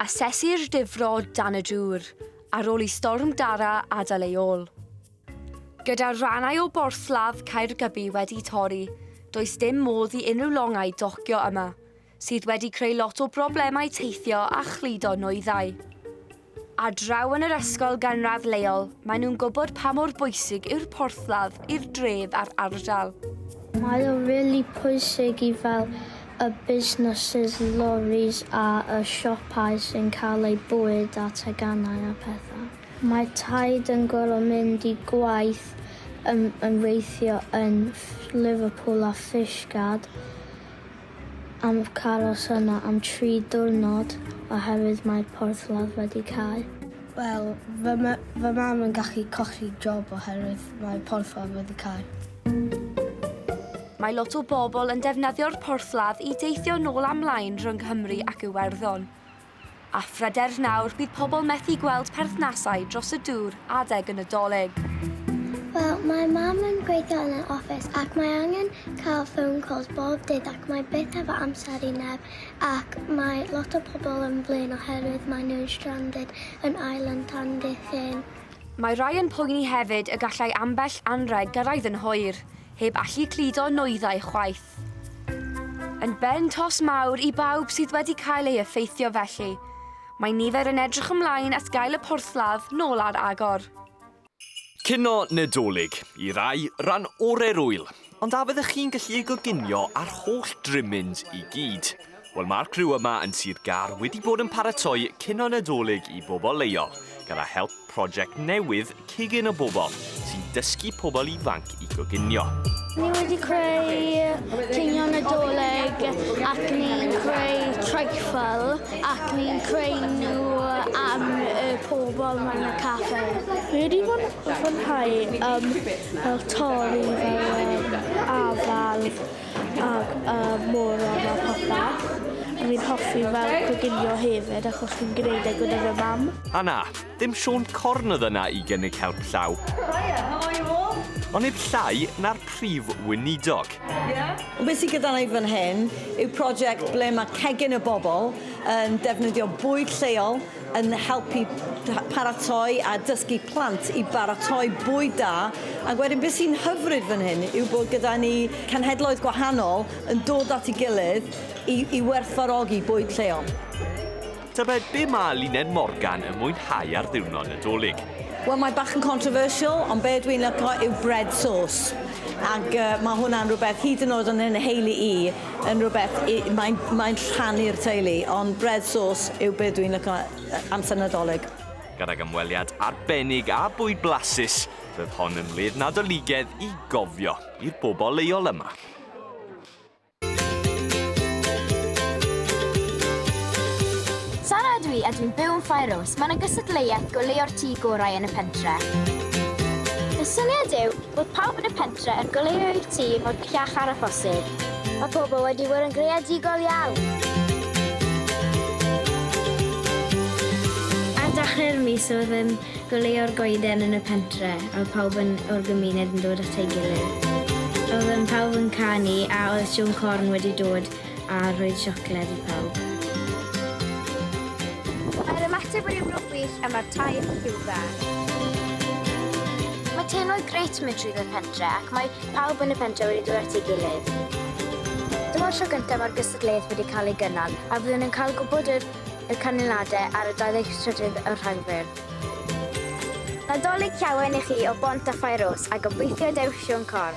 Asesir difrod dan y dŵr ar ôl i Storm Dara adael ei ôl. Gyda rhannau o borthladd Caergybi wedi torri, does dim modd i unrhyw longau docio yma, sydd wedi creu lot o broblemau teithio a chludo nwyddau. Ar draw yn yr ysgol ganradd leol, maen nhw'n gwybod pa mor bwysig yw'r porthladd i'r dref a'r ardal. Mae o rili pwysig i fel y busnesses, loris a y siopau sy'n cael eu bwyd a teganau a pethau. Mae taid yn gorfod mynd i gwaith yn yn weithio yn Liverpool a Fishguard. am cael os yna am tri diwrnod oherwydd mae'r porthladd wedi cau. Wel, fy, ma fy mam yn gallu colli job oherwydd mae'r porthladd wedi cau. Mae lot o bobl yn defnyddio'r porthladd i deithio nôl a mlaen rhwng Nghymru ac Iwerddon. A phryder nawr bydd pobl methu gweld perthnasau dros y dŵr adeg y Nadolig. Wel, mae Mam yn gweithio yn yr office ac mae angen cael phone calls bob dydd ac mae byth hefo amser i neb ac mae lot o pobl yn flin oherwydd mae nhw'n stranded yn Island tan dydd Llun. Mae rhai yn poeni hefyd y gallai ambell anrheg gyrraedd yn hwyr, heb allu cludo nwyddau chwaith. Yn ben tost mawr i bawb sydd wedi cael ei effeithio felly. Mae nifer yn edrych ymlaen at gael y porthladd nôl ar agor. Cinio Nadolig, i rai, ran orau'r ŵyl, ond a fyddech chi'n gallu ei goginio â'r holl drymmins i gyd? Wel mae'r criw yma yn Sir Gar wedi bod yn paratoi cino Nadolig i bobl leol gyda help prosiect newydd Cigyn o Bobl sy'n dysgu pobl ifanc i goginio. Ni wedi creu cinio Nadolig ac ni'n creu treifl ac ni'n creu nhw am y pobl mewn y caffe. Ni wedi fwynhau um, fel torri fel um, afal Ac y môr yma popeth. A fi'n hoffi fel coginio hefyd achos fi'n gwneud e gyda fy mam. A na, dim Siôn Corn oedd yna i gynnig help llaw. Hiya, how are you all? Ond nid llai na'r Prif Weinidog. Be sy gyda ni fan hyn yw project ble mae Cegin y Bobl yn defnyddio bwyd lleol, yn helpu paratoi a dysgu plant i baratoi bwyd da ac wedyn beth sy'n hyfryd fan hyn yw bod gyda ni cenhedloedd gwahanol yn dod at ei gilydd i, i werthfarogi bwyd lleol. Tybed be mae Luned Morgan yn mwynhau ar ddiwrnod Nadolig? Wel, mae bach yn controversial, ond be dwi'n lyco yw bread sauce. Ac uh, mae hwnna'n rhywbeth hyd yn oed yn yn heulu i. yn rhywbeth i... Mae'n mae'n rhannu'r teulu, ond bread sauce yw be' dwi'n lico yy amser Nadolig. Gydag ymweliad arbennig a bwyd blasus, roedd hon yn wledd Nadoligedd i gofio i'r bobl leol yma. Sara ydw i a dwi'n byw yn Faeros, mae 'na gystadleuaeth goleuo'r tŷ gorau yn y pentre'. Y syniad yw Bod pawb yn y pentre yn goleuo eu tŷ mor bellach â'r a phosib. Mae pobl wedi bod yn greadigol iawn! Ar dachlau'r mis oedd yn goleuo'r goeden yn y pentre a oedd pawb yn o'r gymuned yn dod at ei gilydd. Oedden pawb yn canu a oedd Siôn Corn wedi dod a rhoi siocled i pawb. Mae'r ymateb wedi bod yn wych a mae'r taith rhyw dda. Mae teimlad grêt mynd trwyddo'r pentre ac mae pawb yn y pentre wedi dod at ei gilydd. Dyma'r tro gyntaf mae'r gystadleuaeth wedi cael ei gynnal a fyddwn yn cael gwybod yr y canlyniadau ar y 23 o Rhagfyr. Nadolig Llawen i chi o Bont a Phaerws a gobeithio dewch Siôn Corn!